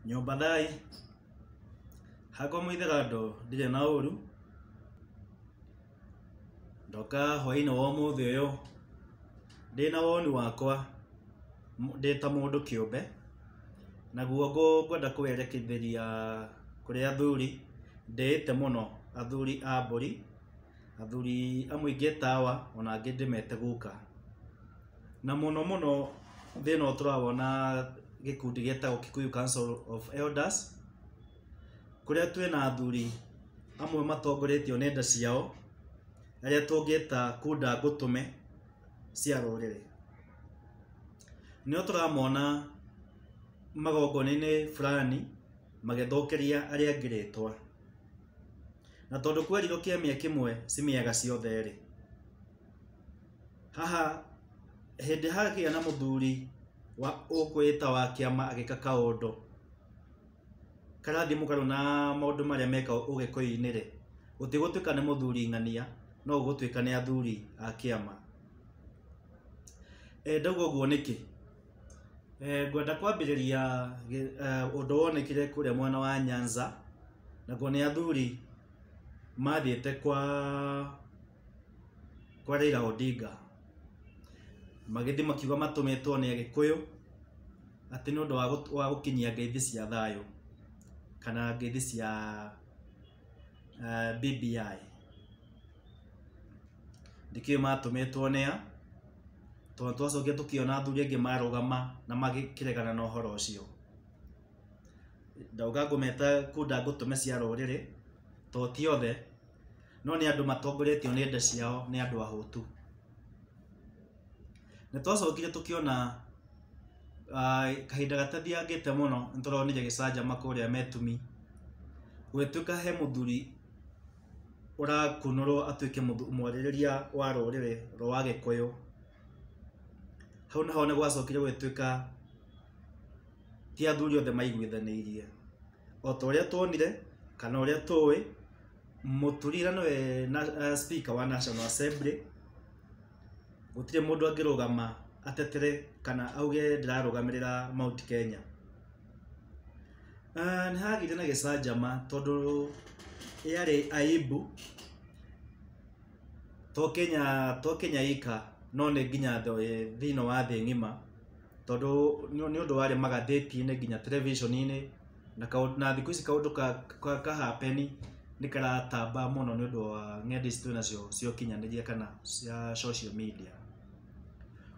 nyũmba thai hakwa mwithĩra ndo ndirĩ na ũru ndoka hwainĩ wa ũmũthĩ ũyũ ndĩ na woni wakwa m- ndĩ ta mũndũ kĩũmbe naguo ngũ- ngwenda kũwerekithĩria kũrĩ athuri ndĩĩte mũno athuri a mbũri athuri amwe ingĩtawa ona angĩ ndĩmete gũka Na mũno mũno thĩna ũyũ tũrawona gĩkundi gĩtagwo Kikuyu Council of Elders, kũrĩa twĩ na athuri amwe matongoretio nĩ nda ciao, arĩa tũngĩta kunda ngũtũme cia rũrĩrĩ. Nĩo tũramona magongona-inĩ fulani magĩthũkĩria arĩa angĩ rĩtwa. Na tondũ kwerirwo kĩamia kĩmwe ci mĩaga ciothe rĩ. Haha hĩndĩ hagĩa na mũthuri wa ũkwĩta wa kĩama agĩka kaũndũ karathiĩ mũgarũ na maũndũ marĩa mekagwo ũgĩkũyũ-inĩ rĩ, gũtigũtuĩka nĩ mũthuri ng'ania, no gũgũtuĩka nĩ athuri a kĩama. Ndauga ũguo nĩkĩ? Ngwenda kwambĩrĩria ũndũ wonekire kũrĩa mwena wa Nyanza, nakuo nĩ athuri mathiĩte kwa kwa Raila Odinga magĩthiĩ makiuga matũmĩtwo nĩ Agĩkũyũ atĩ nĩ ũndũ wa gũt- wa gũkinyia ngeithi cia thayũ kana ngeithi cia eh, BBI ndikĩũĩ matũmĩtwo nĩ a tondũ twacokire tũkĩona athuri angĩ marũgama na magĩkĩregana na ũhoro ũcio ndauga ngũmeta kunda ngũtũme cia rũrĩrĩ to ti othe no nĩ andũ matongoretio nĩ nda ciao nĩ andũ ahũtu nĩ twacokire tũkĩona ah, kahinda gatathiangĩte mũno nĩ tũronire gĩcanjama kũrĩa metumi gũgĩtuĩka he mũthuri ũrakunũrwo atuĩke mũthu- mwarĩrĩria wa rũrĩrĩ rwa gĩkũyũ hau naho nĩ gwacokire gũgĩtuĩka ti athuri othe maiguithanĩirie o ta ũrĩa tuonire kana ũrĩa tũĩ mũturira nĩwe na, uh, speaker wa national assembly gũtirĩ mũndũ angĩrũgama atetere kana auge ndĩrarũgamĩrĩra mount kenya uh, nĩ hagĩire na gĩcanjama tondũ yarĩ aibu to kenya to kenya ika no nĩ nginya thĩ- thĩinĩ wa thĩ ng'ima tondũ nĩ ũndũ warĩ magathĩti-inĩ nginya terebiceni-inĩ na kaũndũ na thikũ ici kaũndũ ka ka ka happen nĩ karatamba mũno nĩ ũndũ wa nenda ici twĩ nacio cia ũkinyanĩria kana cia social media.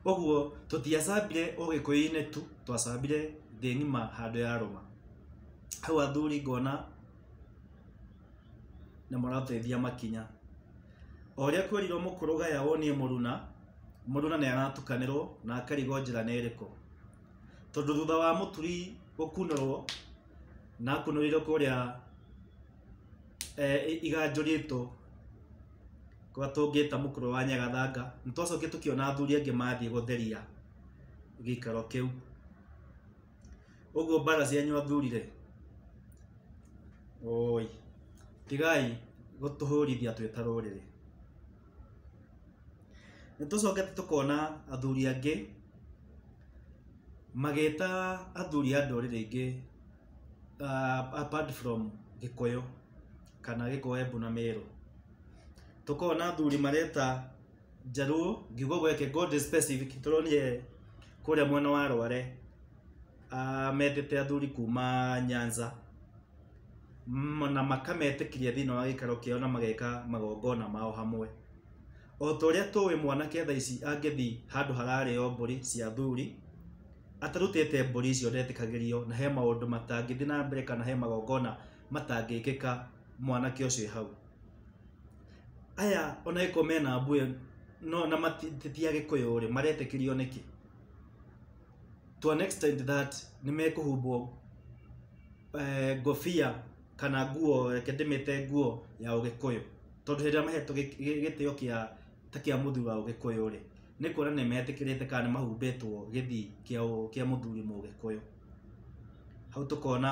Ũguo tũtiacambire ũgĩkũyũ-inĩ tu twacambire thĩ ng'ima handũ ya rũma. Hau athuri ngona nĩ mũratũteithia makinya. O ũrĩa kwerirwo mũkũrũgaya wonie mũruna... mũndũ na nĩaratukanĩrwo na akarigwo njĩra nĩ ĩrĩkũ tondũ thutha wa mũturi gũkunũrwo na akunũrĩirwo kũrĩa eh, i- iganjũrĩtwo kwa tũngĩta mũkũrũ wa nyagathanga nĩ twacokire tũkĩona athuri angĩ mathiĩ gũtheria gĩikaro kĩu ũguo mbara cianyu athurire oi tigai gũtũhũrithia twĩ ta rũrĩrĩ Nĩ tũcokete tũkona athuri angĩ magĩta athuri a ndũrĩrĩ ingĩ apart from Gĩkũyũ kana Gĩkũyũ, Embu na Mĩrũ. Tũkona athuri mareta Njaruo, ngiuga ũguo reke ngorwo ndĩ specific tondũ niĩ kũrĩa mwena wa Rware ah, metete athuri kuma nyanza m- na makametĩkiria thĩinĩ wa gĩikaro kĩao na mageka magongona mao hamwe o ta ũrĩa tũĩ mwanake tha ici angĩthiĩ handũ hararĩo mbũri cia athuri atarutĩte mbũri icio ndetĩkagĩrio na he maũndũ matangĩthiĩ na mbere kana he magongona matangĩkĩka mwanake ũcio e hau aya ona ĩko mena mbuĩ no na mati- ti ti agĩkũyũ rĩ maretĩkĩrio nĩkĩ to an extent that nĩ mekũhumbwo eh, ngobia kana nguo reke ndĩmĩte nguo ya ũgĩkũyũ tondũ hĩndĩ ĩrĩa mahetwo gĩ- gĩ- gĩtĩo kĩa ta kĩa mũthuri wa ũgĩkũyũ rĩ nĩ kuona nĩ metĩkĩrĩte kana nĩ mahumbĩtwo gĩthii kĩa ũ- kĩa mũthuri mũgĩkũyũ hau tũkona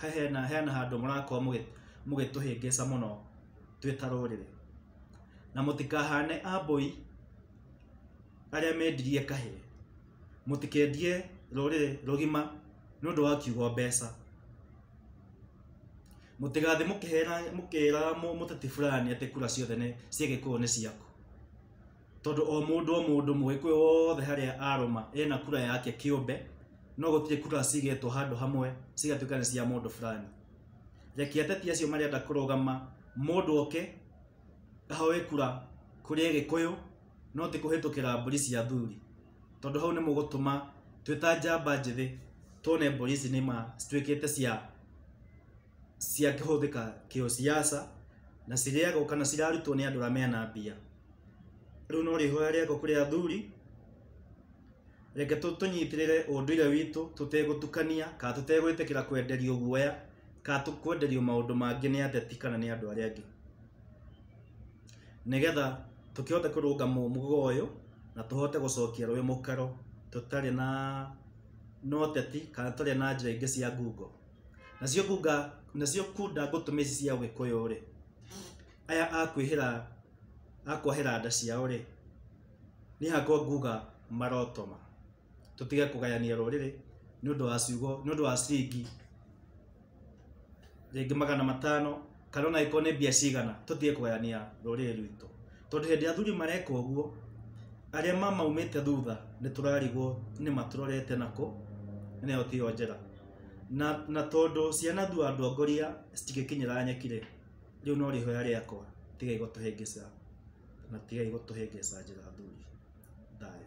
He hena, hena handũ mũrakorwo mũgĩ- mũgĩtũhĩngĩca mũno twĩ ta rũrĩrĩ na mũtikahane ambũi arĩa mendirie kahĩ mũtikendie rũrĩrĩ rũgima nĩ ũndũ wa kiugo mbeca mũtigathiĩ mũkĩhera mũkĩraga mũ- mũteti fulani atĩ kura ciothe nĩ cia gĩkũyũ nĩ ciaku tondũ o mũndũ o mũndũ mũgĩkũyũ wothe harĩa arũma ena kura yake kĩũmbe no gũtirĩ kura cigetwo handũ hamwe cigatuĩka nĩ cia mũndũ fulani reke ateti acio marenda kũrũgama mũndũ oke ahoe kura kũrĩ gĩkũyũ no ti kũhĩtũkĩra mbũri cia athuri tondũ hau nĩ mũgũtũma twĩta njamba njĩthĩ tuone mbũri ici nĩ ma cituĩkĩte cia ciakĩhũthĩka kĩũciaca na cirĩagwo kana cirarutwo nĩ andũ arĩa mena mbia. Rĩu no rĩhoya rĩakwa kũrĩ athuri, reke tũnyitĩrĩre ũndũire witũ tũtegũtukania kana tũtegwĩtĩkĩra kwenderio guoya kana kwenderio maũndũ mangĩ nĩ ateti kana nĩ andũ arĩa angĩ. Nĩgetha tũkĩhote kũrũnga mũhũga ũyũ na tũhote gũcokia rũĩ mũkaro tũtarĩ na ũteti kana tũtarĩ na njĩra ingĩ cia ngungo. nacio kunga nacio kunda ngũtũme ici cia ũgĩkũyũ rĩ aya akwĩhĩra akwahĩra nda ciao rĩ niĩ hakwa nguga marotoma tũtige kũgayania rũrĩrĩ nĩ ũndũ wa ciugo nĩ ũndũ wa ciringi rĩngĩ magana matano kana ona angĩkorwo nĩ mbia cigana tũtige kũgayania rũrĩrĩ rwitũ tondũ hĩndĩ ĩrĩa athuri mareka ũguo arĩa mamaumĩte thutha nĩ tũrarigwo nĩ matũrorete nakũ na ĩyo tiyo njĩra na, na tondũ ciana thu andũ angoria citingĩkinyĩra nyekire rĩu no rĩhoya rĩakwa tigai gũtũhĩngĩca na tigai gũtũhĩngĩca njĩra thuri thayũ